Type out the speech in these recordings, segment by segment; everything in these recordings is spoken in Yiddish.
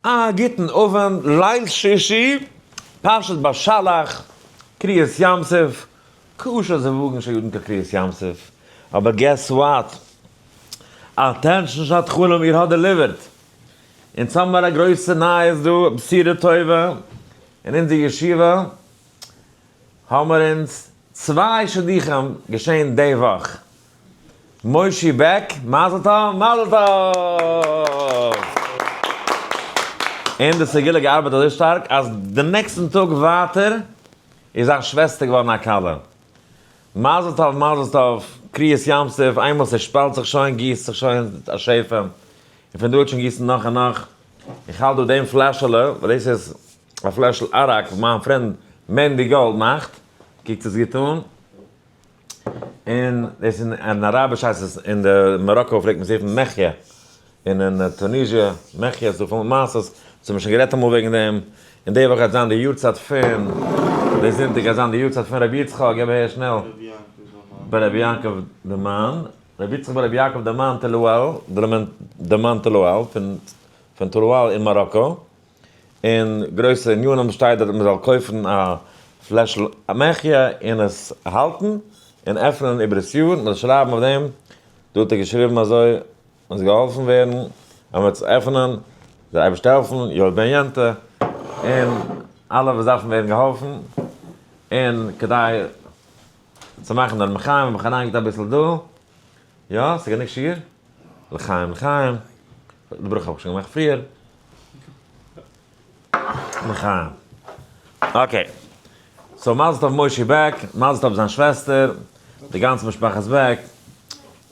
א גוטן אווענט, ליל שישי, פרשת בשלח, קריעת ים סוף, ק ש זיווגן של יודן כקריעת ים סוף, אבער געס וואט? אטענשאן שעת חלום איר האט דעליווערט! אונז האמער א גרויסע נייעס דא, בשורה טובה, אין אונזער ישיבה האמער אונז צוויי שידוכים געשען די וואך, מושי בעק, מזל טוב, מזל טוב! און די סגולה געארבעט אזוי שטארק אז די נעקסטן טאג ווייטער איז זיין שוועסטער געווארן א כלה. מזל טוב, מזל טוב, קריעת ים סוף, איינמאל ס'שפאלט זיך שוין גיסט זיך שוין א שפע, און פון דא וועט שוין גיסן נאך און נאך. איך האלט דא דעם פלעשעלע, וואס דאס איז א פלעשל אראק וואס מיין פרענד מענדי גאלד מאכט, קוקט עס גוט אן. און דאס איז אין אראביש הייסט עס אין די מאראקא פלעגט מען עס רופן מחיה, און אין טוניזיע מחיה, ס'איז דא פול מעשות, אונז האבן שוין גערעדט אמאל וועגן דעם, און די וואך גייט זיין די יארצייט פון, די זונטאג גייט זיין די יארצייט פון רבי יצחק, גיב אהער שנעל, בר רבי יעקב דמן, רבי יצחק בר רבי יעקב דמן טלואל, דמן טלואל, פון טלואל אין מאראקא. און גרויסע ענינים שטייט דארט מען זאל קויפן א פלעשל אמעכיע און עס האלטן און עפענען איבער עס יאר, מ'זאל שרייבן אויף דעם, דא האט ער געשריבן אזוי אונז געהאלפן ווערן אמער צו עפענען, זאל אייבערשטער העלפן יואל בן יענטע און אלע וואס דארפן ווערן געהאלפן, און כדי צו מאכן דער מחיה האב איך אריינגעלייגט אביסל דא. יא, ס'איז גענוג שיעור. לחיים לחיים. די ברכה האב איך שוין געמאכט פריער. לחיים. אקעי. סאו מזל טוב מושי בעק, מזל טוב זיין שוועסטער, די גאנצע משפחת בעק,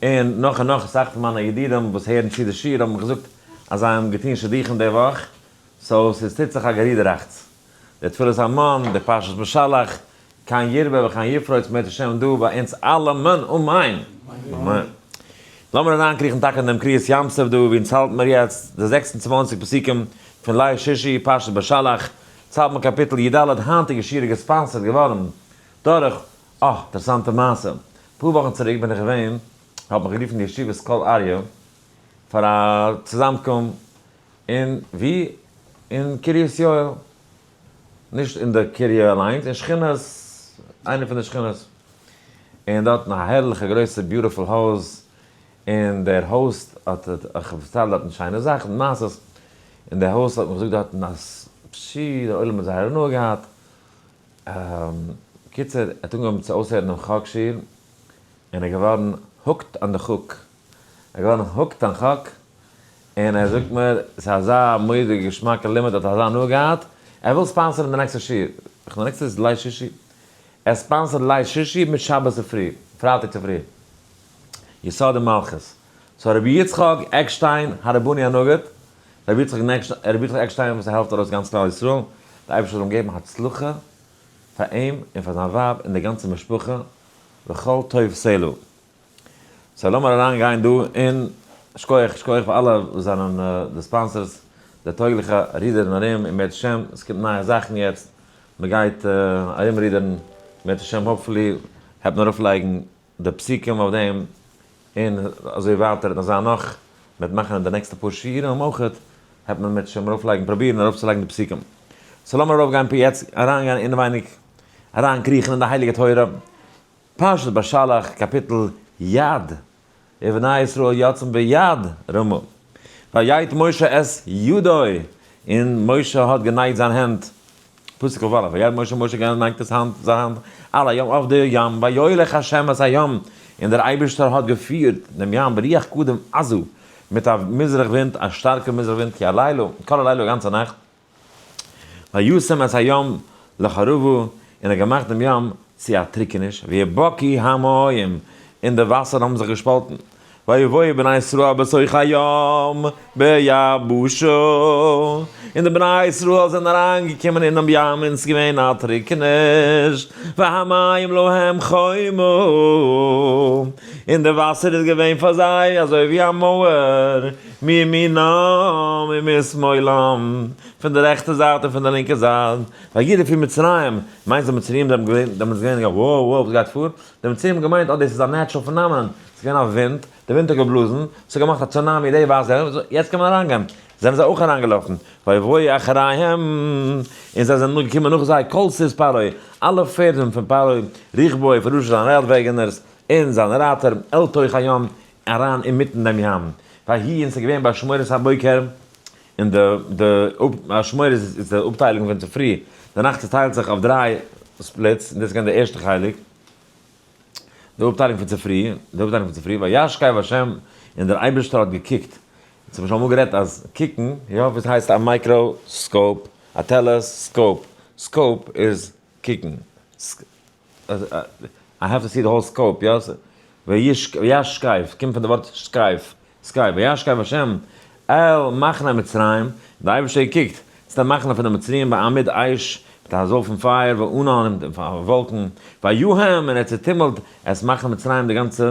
און נאך און נאך. אסאך פון מיינע ידידים וואס הערן צו די שיעור האבן מיר געזאגט אז זיי האבן געטון שידוכים די וואך. סאו ס'טוט זיך א גערודעראכטס. דער תפלת המון, דער פרשת בשלח, כן ירבה וכן יפרוץ מאת השם דא ביי אונז אלעמען, אמן! לאמיר אריינקריכן טאקע אין דעם קריעת ים סוף דא, ווי אונז האלטן מיר יעצט, די זעקס און צוואַנציק פסוקים פון ליל שישי, פרשת בשלח, צייט מיט קאפיטל י ד, היינטיגע שיעור איז געספאנסערד געווארן דורך, אה, אינטערעסאנטע מעשה, אפאר וואכן צוריק בין איך געווען, האט מיך גערופן ישיבת קול אריה, פאר א צוזאמקום, און ווי? אין קרית יואל. נישט אין די קר י אליינס, אין שכונת, איינע פון די שכונות. און דארטן א הערליכע גרויסע ביוטיפול הויז, און דער האוסט האט, איך האב פארציילט דארטן שיינע זאכן, מעשות, און דער האוסט האט מיר געזאגט דארטן אז פשי, דער עולם האט זייער הנאה געהאט. קיצור, ער האט אנגעהויבן צו אויסהערן דעם חק שיעור, און ער איז געווארן הוקט אן די חק. איך ווער נאך הוקט אן חק, און ער זאגט מיר ס'איז אזא מורא'דיגע געשמאקע לימוד, ער האט אזא הנאה געהאט, ער וויל ספאנסערן די נעקסטע שיעור, איך מיין נעקסטע איז ליל שישי, ער ספאנסערט ליל שישי מיט שבת צופרי, פרייטאג צופרי, יסודי מלכות, סאו רבי יצחק עקשטיין הרבני הנגיד, רבי יצחק עקשטיין וואס ער העלפט ארויס גאנץ כלל ישראל, דער אייבערשטער זאל אים געבן הצלחה פאר אים און פאר זיין ווייב און די גאנצע משפחה, וכל טוב סלה. סאו לאמיר אריין גיין דא אין שקויעך שקויעך פאר אלע וואס זענען די ספאנסערס די טויגליכע רידערן ארום און בעז השם עס קומט נייע זאכן יעצט מען גייט ארום רידערן בעז השם האפפולי העט מען ארויף לייגן די פסוקים אויף דעם און אזוי ווייטער און אזא נאך מען וועט מאכן אין די נעקסטע פאר שיעורים אויכעט העט מען בעז השם ארויף לייגן פראבירן ארויף צו לייגן די פסוקים סאו לאמיר ארויף גיין פון יעצט אריין גיין אינעווייניג אריין קריכן אין די הייליגע תורה. פרשת בשלח קאפיטל יד, ובני ישראל יצאו ביד רמה, ויעיט משה את ידו, און משה האט גענייט זיין הענט, פסוק כ ו, ויעיט משה, משה גענייט דאס האנט, זיין האנט, אל הים אויף די ים, ויוליך השם את הים, און דער אייבערשטער האט געפירט דעם ים ברוח קדם עזו, מיט א מזרח ווינט, א שטארקע מזרח ווינט, כי הלילה, כל הלילה, א גאנצע נאכט. וישם את הים לחרובו, און ער האט געמאכט דעם ים צו א טריקעניש, ויהא בקי המים, און די וואסערן האבן זיך געשפאלטן, ויבואו בני ישראל בתוך הים ביבשה, און די בני ישראל זענען אריין געקומען אינעם ים און ס'איז געווען א טריקעניש, והמים להם חומה, און די וואסער איז געווען פאר זיי אזוי ווי א מויער. מימינם ומשמאלם, פון די רעכטע זייט און פון די לינקע זייט, ווייל יעדער פון מצרים מיינט די מצריים זענען געווען דעמאלטס געווען א wow wow וואס גייט פאר, די מצריים האבן געמיינט אז דאס איז א נעטשרעל פענאמענאן, ס'איז געווען א ווינט, די ווינט האט געבלאזן, ס'האט געמאכט א צונאמי, די ווייסט ווער, יעצט קען מען אריינגיין, זענען זיי אויך אריינגעלאפן, ויבואו אחריהם, און זיי זענען געקומען נאך זיי כל סוס פרעה, אלע פערדן פון פרעה, רכבו פון ראש זיינע רייד וועגענערס, און זיינע רייטער, אל תוך הים, אריין אינמיטן דעם ים ויהי און ס'איז געווען באשמורת הבוקר און די די אפ באשמורת איז איז די אפטיילונג פון צופרי די נאכט צעטיילט זיך אויף דריי ספליטס און דאס איז געווען די ערשטע חלק די אפטיילונג פון צופרי די אפטיילונג פון צופרי וישכב ה' און דער אייבערשטער האט געקוקט אונז האבן שוין אמאל גערעדט אז קוקן יא וואס הייסט א מייקרא סקאופ א טעלע סקאופ סקאופ איז קוקן. איי העוו טו סי די האול סקאופ, יא? וישכב, קומט פון די ווארט שכב, סקייפ, וישכב השם אל מחנה מצרים, די אייבערשטער קוקט צו די מחנה פון די מצריים בעמוד אש, מיט א זויל פון פייער, וענן, און וואלקן, ויהום, און ער צעטומלט את מחנה מצרים די גאנצע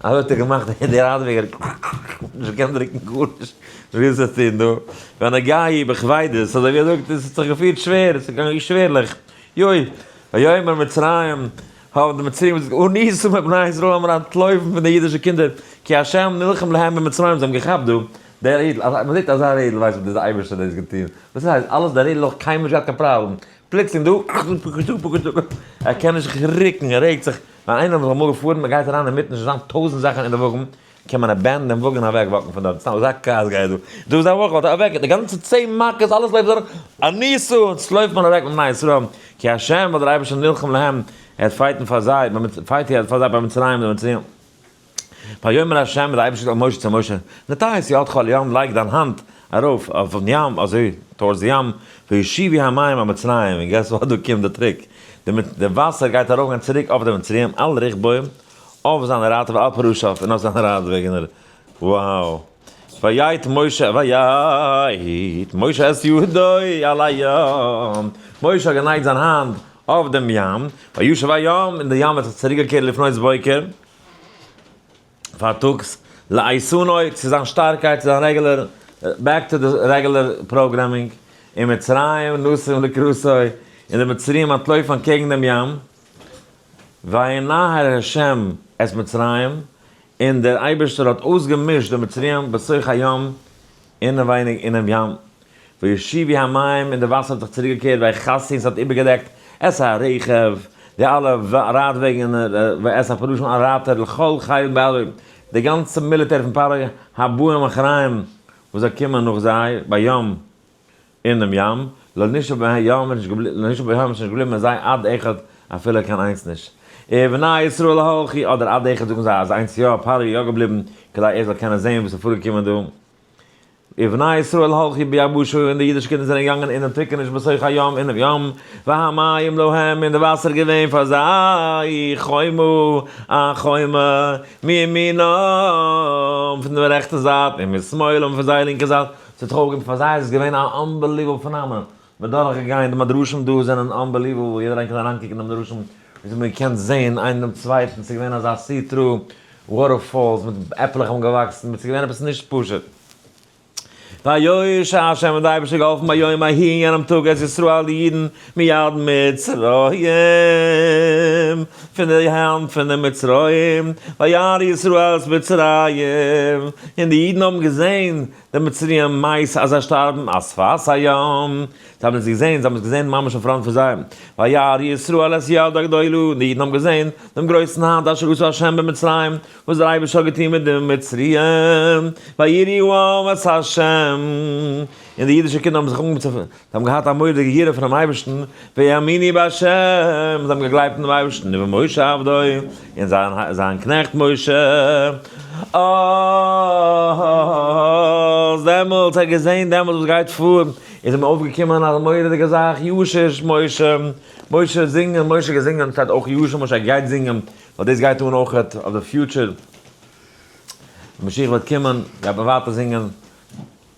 אזוי האט ער געמאכט און די ראדוויגער ק ק ק ק האט נישט געקענט דרוקן גארנישט ווי עס איז טון דא ווען א גיי בכבידות אזוי ווי ער זאגט עס האט זיך געפירט שווער עס איז געגאנגען שווערליך יוי ויאמר מצרים האבן די מצריים דאס געזאגט הניסו מבני ישראל האבן אנטלויפן פון די אידישע קינדער כי השם נלחם להם במצרים זיי האבן געכאפט דא דער אידל אזא מען זעט אזא רעדל ווייסט מען דאס איז די אייבערשטער דאס געטון וואס עס הייסט אלעס דער רעדל אויך קיינמאל נישט געהאט קיין פראבלעם. פלוצלינג דא אכטונג פקשטו פקשטו ער קען נישט זיך רוקן ער רעגט זיך ווייל איינער וואס איז אמאל געפארן מ'גייט אריין אינמיטן שוין זיין טויזנט זאכן אין די וואגן קען מען אבענדן דעם וואגן אוועק וואקן פון דארט סתם אזא כעס גייט דא דא איז א וואך וואלט ער אוועק די גאנצע צען מכות אלעס לויפט דורך א ניסו און סלויפט מען אוועק בני ישראל כי השם ווייל דער אייבערשטער נלחם להם ער וועט פייטן פאר זיי ביים פייט ער פאר זיי ביים מצרים די מצריים. ויאמר ה' דער אייבערשטער אל משה צו משה, נטה את ידך אל הים לייג דיין האנט ארויף אויפן ים אזוי טאווארדס די ים, וישיבי המים על מצרים, און געס וואט דא קומט די טריק, די וואסער גייט ארויפגיין צוריק אויף די מצריים על רכבם אויף זיינע רייטער ועל פרושיו און אויף זיינע רייד וועגענער, wow, ויט משה ויט משה את ידו אל הים, משה האט גענייגט זיין האנט אויף דעם ים, וישוב הים און די ים האט זיך צוריק געקערט לפנות בוקר. פארטאגס לעיסאנוי צו זיין שטארקייט צו זיין רעגולער בעק טו די רעגולער פראגרעמינג און מצרים נסים לקראתו און די מצריים אנטלויפן אנטקעגן דעם ים וינהר השם את מצרים און דער אייבערשטער האט אויסגעמישט די מצריים בסך הים אינעווייניג אינעם ים, וישיבי המים, און די וואסער האט זיך צוריקגעקערט ווי א חסין, ס'האט איבערגעדעקט את הרכב, די אלע רייטוועגן, ואת הפרושים אלע רייטער, לכל חיל בעלוי, די גאנצע מיליטער פון פרעה, הבאים אחריהם, וואס זאל קומען נאך זיי, בים, אינעם ים, לא נשאר בין הים איז נישט געבליבן מיט זיי עד אחד אפילו קיין איינס נישט, ובני ישראל הלכו, אדער עד אחד זאגן זיי אז איינס יא, פרעה איז יא געבליבן, כדי ער זאל קענען זען וואס איז פארגעקומען דא, ובני ישראל הלכו ביבשה, און די אידישע קינדער זענען געגאנגען אינעם טריקעניש בתוך הים, אינעם ים, והמים להם, און די וואסער איז געווען פאר זיי, חומה, א חומה, מימינם, פון דער רעכטער זייט, ומשמאלם, פון זייער לינקער זייט, צו טרויערן פאר זיי איז עס געווען א אנבעליוועבל פענאמענען, מען האט דורך געגאנגען די מדרשים דא זענען אנבעליוועבל יעדער איינער קען אריין קוקן אין די מדרשים ווי אזוי מען קען זעהן איינער דעם צווייטן ס'איז געווען אזא סי טרו וואטער פאלס מיט עפלעך האבן געוואקסן מיט ס'איז געווען עפעס נישט פשוט והיו ש ה השם האט אייבערשטער געהאלפן ביום ההיא אין יענעם טאג את ישראל די אידן מיד מצרים פון די הענט פון די מצריים וירא ישראל את מצרים און די אידן האבן געזעהן די מצריים מײַס אַז זײ שטאַרבן, אַ שפת הים, זײ האָבן עס געזען, זײ האָבן עס געזען ממש אין פֿראַנט פֿון זײ, וירא ישראל את יד הגדולה, און די ייִדן האָבן געזען דעם גרױסן האַנט אשר עשה השם במצרים, װאָס דער אײבערשטער האָט געטאָן מיט די מצריים, ויראו העם את השם, און די ייִדישע קינדער האָבן זיך אָנגעהױבן צו. זיי האבן געהאט א מורא'דיגע יראה פונעם אייבערשטן, והאמיני בה', זיי האבן געגלייבט אינעם אייבערשטן ובמשה עבדו, און זיין זיין קנעכט משה, אז דעמאלטס האט געזען דעמאלטס וואס גייט פאר, איז אים אויפגעקומען א מורא'דיגע זאך, ישיש משה, משה האט זינגען, משה האט געזינגען, שטייט אויך ישיש משה, ער גייט זינגען, ווייל דאס גייט אן אויך אויף די פיוטשער, ווען משיח וועט קומען, גייט מען ווייטער זינגען.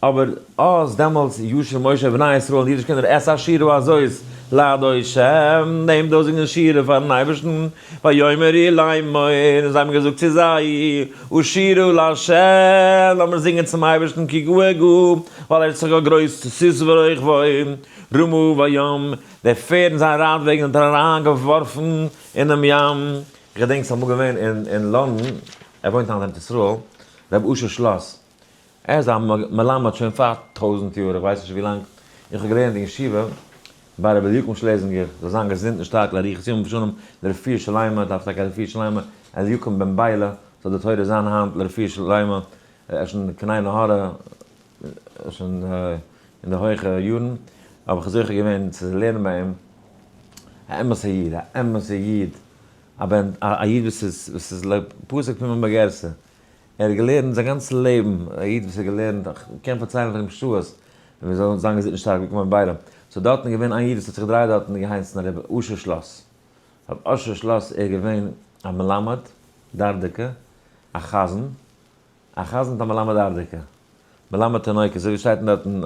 אבער אז דעמאלטס ישמעו משה ובני ישראל און די אידישע קינדער את השירה הזאת לאדוני שם, דעם דאזיגן שירה פארן אייבערשטן, ויאמר איר לאמור, און זיי האבן געזאגט צו זיי, השירו לה', לאמיר זינגען צום אייבערשטן כי גו' עגו', ווייל ער איז זיך גאר גרויס, צוסיס ורויכבוי, רמו בים, די פערד און זיין רייד וועגן האט ער אריינגעווארפן אינעם ים. איך געדענק ס'איז אמאל געווען אין לונדון, ער וואוינט היינט אין ארץ ישראל, רבי אשר שלאס, ער איז א מלמד שוין פאר טויזנט יאר, איך ווייס נישט ווי לאנג, איך האב געלערנט אין ישיבה ביי רבי אליקים שלעזינגער זאל זיין געזונט און שטארק לאריכות ימים ושנים לרפואה שלימה, דארף טאקע א רפואה שלימה, אליקים בן ביילע זאל די תורה זיין היינט לרפואה שלימה, ער איז שוין קני נהורא, שוין אין די הויכע יארן, האב איך זוכה געווען צו לערנען ביי אים, א אמת'ע איד, א אמת'ע איד, א איד וואס איז לפסק פימה בגרסא, ער האט געלערנט זיין גאנצע לעבן, א איד וואס האט געלערנט, איך קען פארציילן פון אים שעות, ווי אזוי זיין געזונט איז נישט שטארק געקומען ביידעם, ס'איז דארטן געווען איין איד וואס האט זיך געדרייט דארטן אין געהייסן הרב אשר שלאס, הרב אשר שלאס ער איז געווען א מלמד דרדקה, א חזן, א חזן מיט א מלמד דרדקה, מלמד תינוקות, אזוי ווי שטייט דארטן,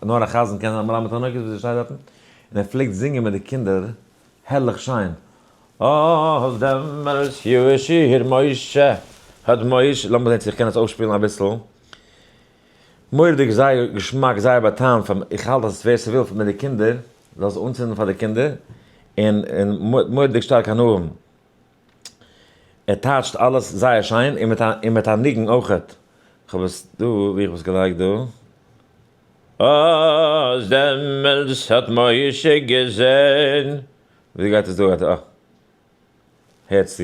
נאר א חזן קען זיין א מלמד תינוקות ווי אזוי שטייט דארטן, און ער פלעגט זינגען מיט די קינדער. הערליך שיין! אהההה דעמאלטס יאשיר משה האט מוש. לאמיר זען צו איך קען עס אויסשפילן אביסל. מורא'דיג זייער געשמאק זייער באטאם פאר איך האלט אז ווער ס'וויל מיט די קינדער זאל עס אנצינדן פאר די קינדער און און מורא'דיג שטארק הנאה. ער טייטשט אלעס זייער שיין און מיט א און מיט א ניגון אויכעט. כ'האב עס דא, ווי איך האב עס געלייגט דא. אאז דעמאלטס האט מוישע געזעהן. ווי גייט עס דא? הערטס צו.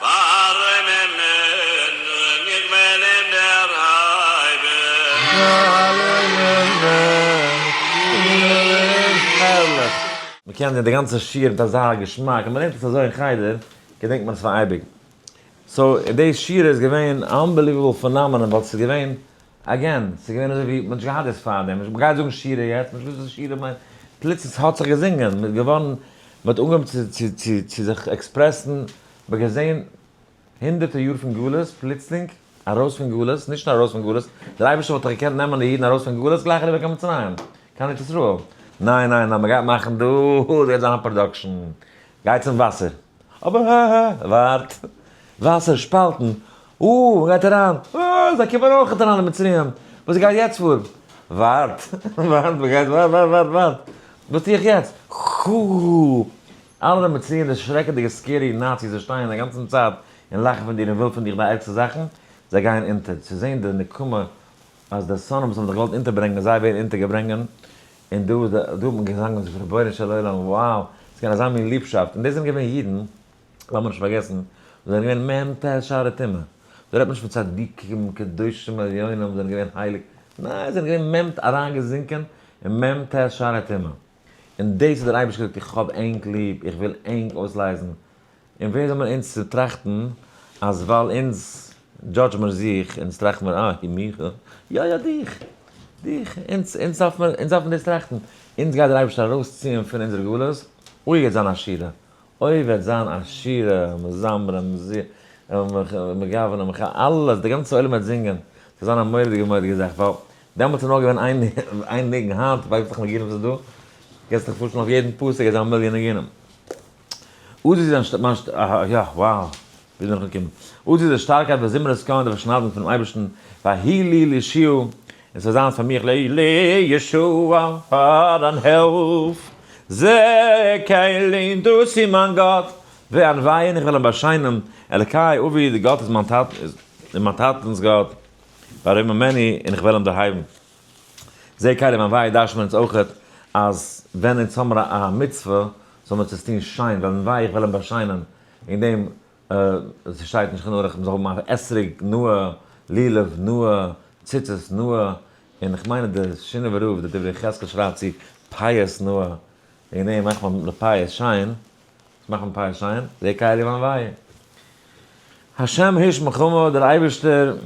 ווארום אים נעמען איך וועל אים דערהייבן. הערליך! מען קען די גאנצע שיעור מיט אזא געשמאק, ווען מען לערנט עס אזוי אין חדר געדענקט מען עס פאר אייביג. סאו דעי שיעור איז געווען אנבעליוועבל פענאמענען ווייל ס'איז געווען עגעין, ס'איז געווען אזוי ווי מ'האט נישט געהאט דאס פארדעם, נישט מ'גייט זאגן שירה יעצט, נישט וואס איז שירה מיינט, פלוצלינג ס'האט זיך געזינגען, מ'איז געווארן, מ'האט אנגעהויבן צו צו צו צו זיך עקספרעסן, מ'האט געזען הונדערטער יאר פון גלות, פלוצלינג ארויס פון גלות, נישט נאר ארויס פון גלות, דער אייבערשטער וואלט דאך געקענט נעמען די אידן ארויס פון גלות גלייך אריבער קיין מצרים, קיין ארץ ישראל, ניין ניין ניין מ'גייט מאכן דא, ס'גייט זיין א פראדאקשן, גייט צום וואסער. אבער הא הא, ווארט, וואסער שפאלטן, אה, מען גייט אריין, אה, זיי קומען אויכעט אריין די מצריים, וואס גייט יעצט פאר, ווארט, ווארט, מען גייט ווארט, ווארט, ווארט, ווארט, וואס טו איך יעצט, חו, אלע די מצריים די שרעקעדיגע סקערי נאציס וואס שטייען די גאנצן צייט און לאכן פון דיר און ווילן פון דיך די ערגסטע זאכן, זיי גייען אונטער, צו זען די נקמה אז די שונאים וואס האבן דיך געוואלט אונטערברענגען זיי ווערן אונטערגעברענגען, און דא דא האט מען געזאנגען און זיך געפרעגט רבונו של עולם וואו איז געווען אזא מין ליבשאפט און דאס זענען געווען אידן לאמיר נישט פארגעסן וואס זענען געווען מ ט שערי טומאה דא רעדט מען נישט פון צדיקים קדושים עליונים וואס זענען געווען הייליג ניין זיי זענען געווען מ ט אריינגעזינקען אין מ ט שערי טומאה און דאס האט דער אייבערשטער געזאגט איך האב ענק ליב איך וויל ענק אויסלייזן און ווער זענען אונז צו טראכטן אז ווייל אונז דזשאדזש מיר זיך, אונז טראכט מיר אה, מיך, יא יא דיך, דיך, אונז, אונז דארף מען, אונז דארף מען דאס טראכטן, אונז גייט דער אייבערשטער ארויסציען פון אונזער גלות, אוי וועט זיין א שירה, אוי וועט זיין א שירה, מזמרים, מגוונים, אלעס, דער גאנצער עולם וועט זינגען, ס'וועט זיין א מורא'דיגע מורא'דיגע זאך, ווייל דעמאלטס איז נאר געווען איין איין ניגון, היינט ווייסעך ניגונים וואס איז דא, קענסט דיך פארשטעלן אויף יעדן פסוק גייט זיין א מיליאן ניגונים. אויס איז זיין שטארקייט מיין שטארקייט ווען זמר עס קאן דער פארשניידונג פונעם אייבערשטן והי' לי לישועה און עס זאל זיין פאר מיך לישועה פאר אן הילף זע איך אליין דאס איז מיין גאט וענווה און איך וועל אים באשיינען אלקי אבי די גאט איז מיין טאטענס גאט ווארום ממני און איך וועל אים דערהייבן. זעה קיידער מיין וויי דארשט מען אונז אויכעט אז ווען אונז האמער א מצוה זאל מען עס טוהן שיין וועלן וויי איך וועל אים באשיינען וועגן דעם עס שטייט נישט חנוך איך זאל האבן א אתרוג נאה לולב נאה ציצית נאה און איך מיין אז די שינאווער רב די דברי חזקאל שרייבט צו פאות נאה וועגן דעם מאכט מען די פאות שיין. מאכן פיי שיין דער קאראוואן וויי. השם האיש מלחמה, דער אייבערשטער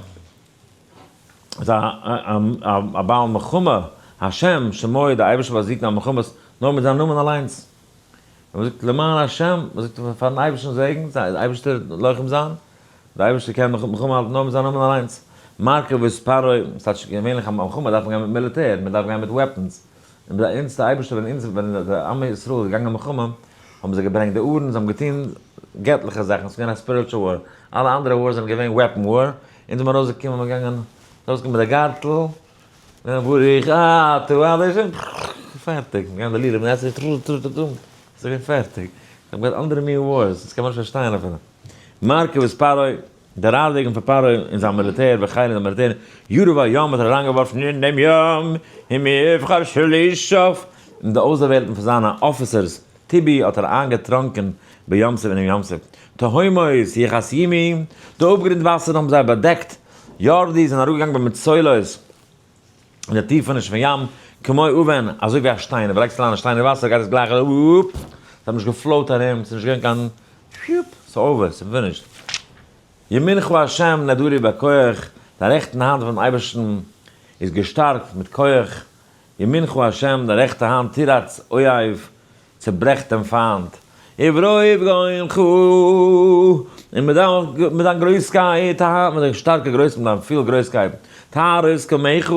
איז א בעל מלחמה, השם שמו, דער אייבערשטער באזיגט די מלחמות נאר מיט זיין נאמען אליינס. ווען מען זאגט למען השם, מען זאגט פארן אייבערשטן זעגן, זיי די אייבערשטער לוחם זיין, דער אייבערשטער קען מלחמה האלטן נאר מיט זיין נאמען אליינס. מרכבות פרעה, ס'טייטש געווענליך א מלחמה דארף מען גיין מיט מיליטער, מען דארף גיין מיט וועפענס, און ביי אונז די אייבערשטער ווען אונז ווען די עמי ישראל איז געגאנגען מלחמה האבן זיי געברענגט די ארון זיי האבן געטון געטליכע זאכן עס איז געווען א ספיריטשעל וואר אלע אנדערע ווארס זענען געווען וועפן וואר אונז האבן ארויס געקומען מיר געגאנגען ארויס געקומען מיט די גארטל און ברוך אתה אדוני פערטיג מיר געגאנגען די לילה טו טו טו טו טו עס איז געווען פערטיג זיי האבן געהאט אנדערע מין ווארס עס קען מען נישט פארשטיין אפילו מרכבות פרעה. דער רייד וועגן פון פרעה און זיין מיליטער ווען חיל און די מיליטער יארא והיאמער האט אריינגעווארפן אין דעם ים אים מבחר שלישיו און די אויסדערוועלטן פון זיינע אפיסערס טובי האט ער איינגעטראנקען בים סוף אינעם ים סוף תהומות יכס ימי די אפגרינד וואסערן האבן זיי באדעקט יארדי זענען אראפגעגאנגען במצולות. אין די טיפענישן פון ים, כמו אבן, אזוי ווי א שטיין, אויב לייגסט אריין א שטיין אין וואסער גייט עס גלייך ארויף, עס האט נישט געפלאוט ארום, עס איז נישט געווען קיין, עס איז אווער, עס איז פינישט. ימינך ה' נדורי בכח, די רעכטן האנט פונעם אייבערשטן איז געשטארקט מיט כח, ימינך ה', די רעכטע האנט תירץ אויב, צעברעכט דעם פֿײַנט עבֿרו-עבֿ גאון חו. און מיט דײַן, מיט דײַן גרױסקײט, האַ? מיט דײַן שטאַרקע גרױס, מיט דײַן פֿיל גרױסקײט, טהרות קמך,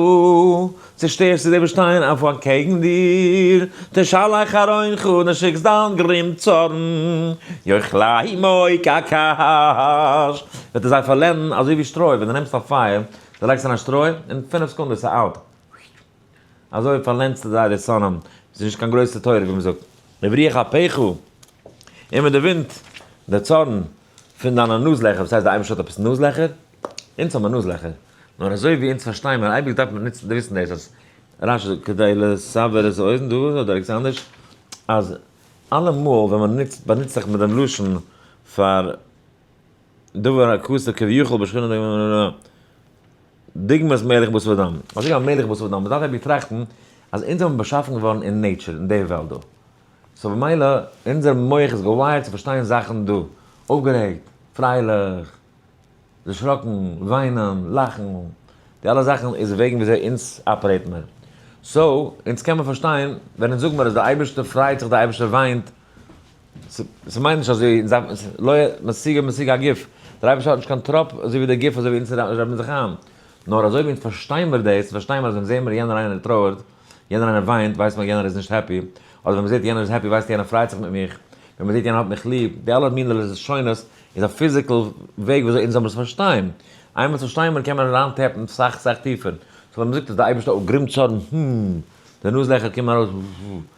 צעשטערסט דו די װאָס שטײען אױף אַנטקעגן דיר, תשלח אַרון חו, דו שיקסט דײַן גרים צאָרן, יאכלײ מױ כקש, װעט ער זײ פֿאַרלענדן אַזױ װי שטרױ, װען דו נעמסט אױף פֿײַער, דו לײגסט אַרײַן שטרױ, אין פֿינף סעקונדעס איז אַלט, וויט, אזוי פארלענדסטו זייערע שונאים, ס'איז נישט קיין גרויסע תורה ווי מ'זאגט, וברוח אפיך, און מיט די ווינט, די צארן, פון דיינע נאז לעכער, וואס הייסט די אייבערשטער האט עפעס נאז לעכער? אונז האבן מיר נאז לעכער, נאר אזוי ווי אונז פארשטיי מיר, אייביג דארף מען נוצן וויסן דאס אז רש י כדי לסבר את האוזן דא אדער ערגעץ אנדערש, אז אלעמאל ווען מען נוצט באנוצט זיך מיט דעם לשון פאר דבר הכסה כביכול בשכינות דהיינו. דוגמת מלך בשר ודם, אזוי ווי א מלך בשר ודם, מ'דארף אבי טראכטן אז אונז זעמיר באשאפן געווארן אין נעיטשור, אין די וועלט דא, סאו במילא אונזער מח איז געווייערט צו פארשטיין זאכן דא, אויפגערעגט, פרייליך, דערשראקן, וויינען, לאכן, די אלע זאכן איז וועגן ווי אזוי אונז אפערעיט מיר, סאו אונז קען מיר פארשטיין ווען אונז זאג מיר אז די אייבערשטער פרייט זיך די אייבערשטער וויינט, ס'מיינט נישט אז זיי זיי לא משיג משיג הגוף, דער אייבערשטער האט נישט קיין טראפ אזוי ווי דער גוף אזוי ווי אונז רעדן זיך איין, נאר אזוי ווי אונז פארשטיין מיר דאס, פארשטיין מיר אז ווען זעהן מיר יענער איינער טרויערט, יענער איינער וויינט, ווייסט מען יענער איז נישט העפי, אדער ווען מ'זעהט יענער איז העפי ווייסט יענער פרייט זיך מיט מיך, ווען מ'זעהט יענער האט מיך ליב, די אלע מינע לשונות איז א פיזיקעל וועג ווי אזוי אונז זאל עס פארשטיין, איינמאל עס פארשטיי מען קען מען אריין טעפן סאך סאך טיפער, סאו ווען מ'זאגט אז דער אייבערשטער האט גרימצארן, הםםם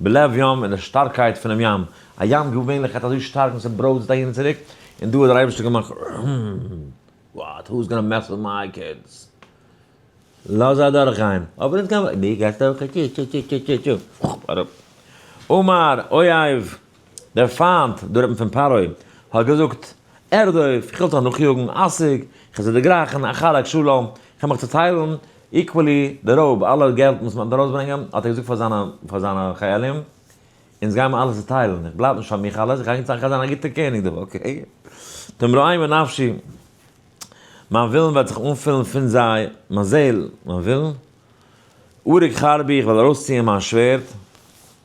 בלב ים, אין דער שטארקייט פונעם ים, א ים געווענליך האט אזוי שטארק און ס'ברויזט אהין און צוריק, און דא האט דער אייבערשטער געמאכט וואט הוז גאנא מעס וויט מיי קידס? לאז זיי אדורך גיין, אבער אונז גיי מיר, דו גייסט אויך? טשו טשו טשו טשו טשו טשו, אראפ. אמר אויב דער פֿײַנט, דער רבן פֿון פַּרעה, האָט געזאָגט, ערדער אױף, איך װעל זיך נאָכיאָגן, אַסיק, איך װעל זיך דערגרײכן אַ חלק שלום, איך װעל מיך צעטײלן, equally, די רױב, אַלע געלט, װאָס מע װעט אַרױסברענגען, האָט ער געזאָגט פֿאַר זײַנע, פֿאַר זײַנע חײלים, אונדז גײען מיר אַלע צעטײלן, איך בלײַב נישט פֿאַר מיך אַלעס, איך גײ אונדז, איך גײ זײַן אַ גוטער קעניג דאָ, אָקעי? תּמרױי מנפֿשי, מײַן װילן װעט זיך אָנפֿילן פֿון זײ, מײַן זעל, מײַן װילן, אורג חרבי, איך װעל אַרױסציִען מײַן שװערד,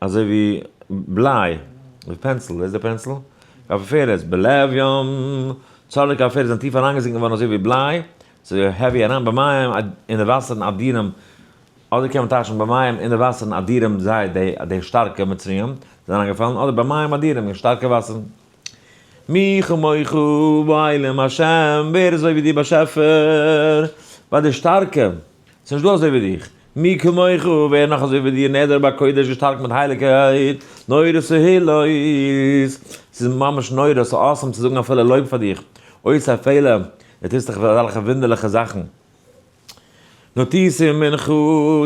אזוי ווי בליי, די פענסיל, ווער איז דער פענסיל? קאפי פערעז, בלב ים, צארלי קאפי פערעז זענען טיף אריינגעזינקען געווארן אזוי ווי בליי, ס'איז העווי אריין במים אין די וואסערן אדירים, אדער קען מען טייטשן במים אין די וואסערן אדירים זיי די שטארקע מצריים זענען אריינגעפאלן, אדער במים אדירים אין שטארקע וואסערן. מי כמוך בעולם השם, ווער איז אזוי ווי דיר באשעפער, ביי די שטארקע, ס'איז נישט דא אזוי ווי דיך, מי כמוך, ווער נאך אזוי ווי דיר נעדר בקודש געשטארקט מיט הייליגקייט, נורא סהעילויס, ס'איז ממש נורא, ס'איז awesome צו זאגן אפילו לויב פאר דיך, אויסער פעלער, דו טוסט דיך אזעלכע וואונדערליכע זאכן. נאָטיץ אין מנחה,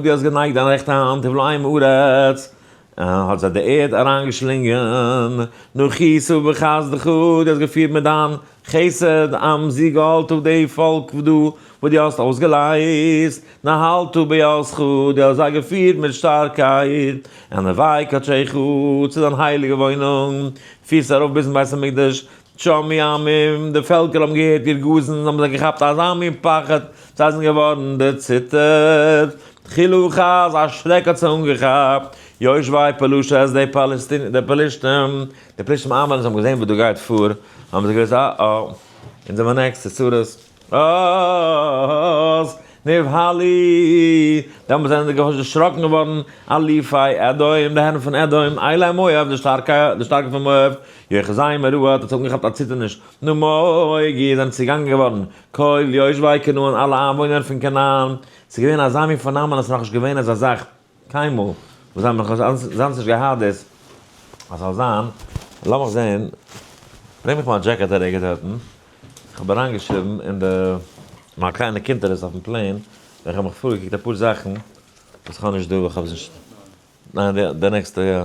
דו האָסט גענייגט דיין רעכטע האַנט און בלעים ארץ, און האָט זיי די ערד אַריינגעשלינגען. נאָך כיסוף בחסדך, דו האָסט געפירט מיט דיין חסד עם זי גאלת אויף די פאָלק עבדו, וואָס דו האָסט אויסגעלייזט. נהלת בעזתך, דו האָסט זיי געפירט מיט שטאַרקייט ענווי קדשך, צו דיין הייליגע וואוינונג, פירסט זיי אַרויף ביזן בית המקדש, שומעי עמים, די פעלקער האבן געהערט איר גאזן, און האבן זיך געכאפט אזא מין פחד, זיי זענען געווארן דערציטערט, חילו ח, אזא שרעק האט זיי אנגעכאפט, יושבי פלשת, די פאלעסטינער, די פלישתים, די פלישתים איינוואוינער, זיי האבן געזען וואס דא גייט פאר, האבן זיי געוואוסט, אה אה, אונז זעמיר נעקסט צו צרות. אָז נבהלי, דעמאָלט זענען די גוים דערשראָקן געוואָרן, אלופי אדום, די הערן פון אדום, עילאי מואב, די שטאַרקע, די שטאַרקע פון מואב, יוחזי מרוע, האָט עס אָנגעכאַפּט אַ ציטערניש, נמוגי, זענען צעגאַנגען געוואָרן, כל יושבי כנען, אַלע איינוואוינער פון כנען, ס'איז געווען אַזאַ מין פֿאָרנאַם און עס איז נאָך נישט געווען אַזאַ זאַך, קיינמאל, וואס זיי האבן אזאנס נישט געהאט דאס אז ס'זאל זיין, לאמיך זעהן, ברענג מיך מיין דזשעקעט א רגע דארטן, כ'האב אריינגעשריבן אין די, מיין קליינע קונטרס אויפן פלען, ווען כ'האב מיך פארגעקוקט אפאר זאכן וואס כ'האב נישט דא, ניין די נעקסטע יא.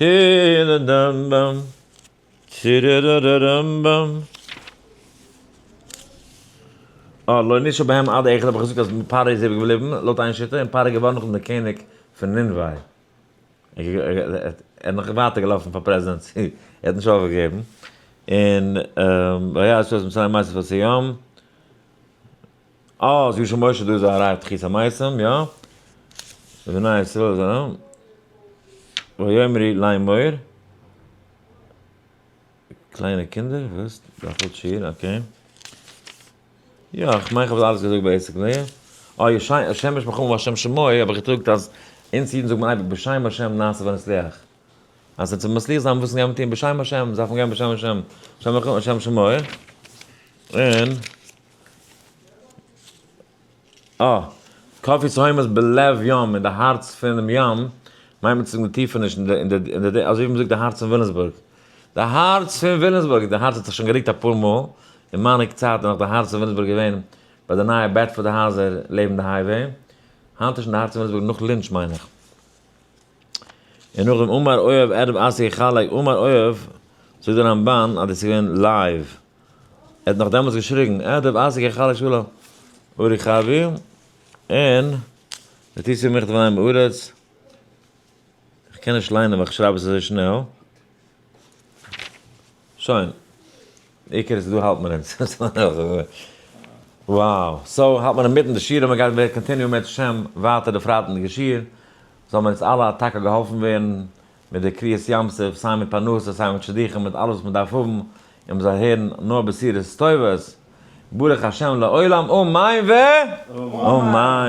היררדמבם, צירררררמבם. אה, לא נישא בהם עד אחד האב איך געזאגט אז פרעה איז איבער געבליבן, לויט איין שיטה, און פרעה איז געווארן נאכדעם דער קעניג פון נינווה. ער נאך ווייטער געלאפן פאר פרעזידענט צו ער האט נישט אויפגעגעבן. און והיה ה' עושה את מצרים מעשה פאר סיום. אה, אז ישוב משה דא איז א ראי' תחיית המתים, יא. ובני ישראל איז א. ויאמרי להם מוהר. קליינע קינדער, וואס? דאפעלט שיעור, אקעי. יא, איך מיין איך האב אלעס געזאגט בעיסיקלי. אה, ישי' השם בשמך ובשם שמו האב איך געזאגט אז אונז אידן זאגט מען אייביג בשם השם נעשה ונצליח. אז אונז ווילן מצליח זיין מוזן גיין מיט אים בשם השם, דארף מען גיין בשם השם. השם בשמך ובשם שמו. און. אה, קאפיס הוימעס בלב ים, אין די הארץ פונעם ים, מיינט מען צו זאגן די טיפעניש אין די אין די אין די אזוי ווי מען זאגט די הארץ פון וויליאמסבורג. די הארץ פון וויליאמסבורג, די הארץ האט זיך שוין גערוקט אפאר מאל, אין מיינע קצת איז נאך די הארץ פון וויליאמסבורג געווען ביי די נייע בעדפארד הייזער לעבן די הייוועי, היינט איז שוין די הארץ פון וויליאמסבורג נאך לינטש מיין איך. און נאכדעם אמר אוהב ערב עשה חלק אמר אוהב זאגט די רמבן אז דאס איז געווען לייוו. ער האט נאך דעמאלטס געשריגן אה דער ווייסער גחלת שלא אורי חבי און ותצא ממך דברי עם הארץ איך קען נישט ליינען ווייל כ'שרייב עס אזוי שנעל שוין עיקר איז דא האלט מען אונז וואו סאו האלט מען אינמיטן די שיעור און מ'גייט בעז ה קאנטיניו מערצט השם ווייטער די פרייטאג די שיעור זאל מיר אונז אלע א טאקע געהאלפן ווערן מיט די קריעת ים סוף, סיי מיט פרנסה סיי מיט שידוכים מיט אלעס וואס מען דארף האבן, און מען זאל הערן נאר בשורות טובות, ברוך השם לעולם אמן ואמן.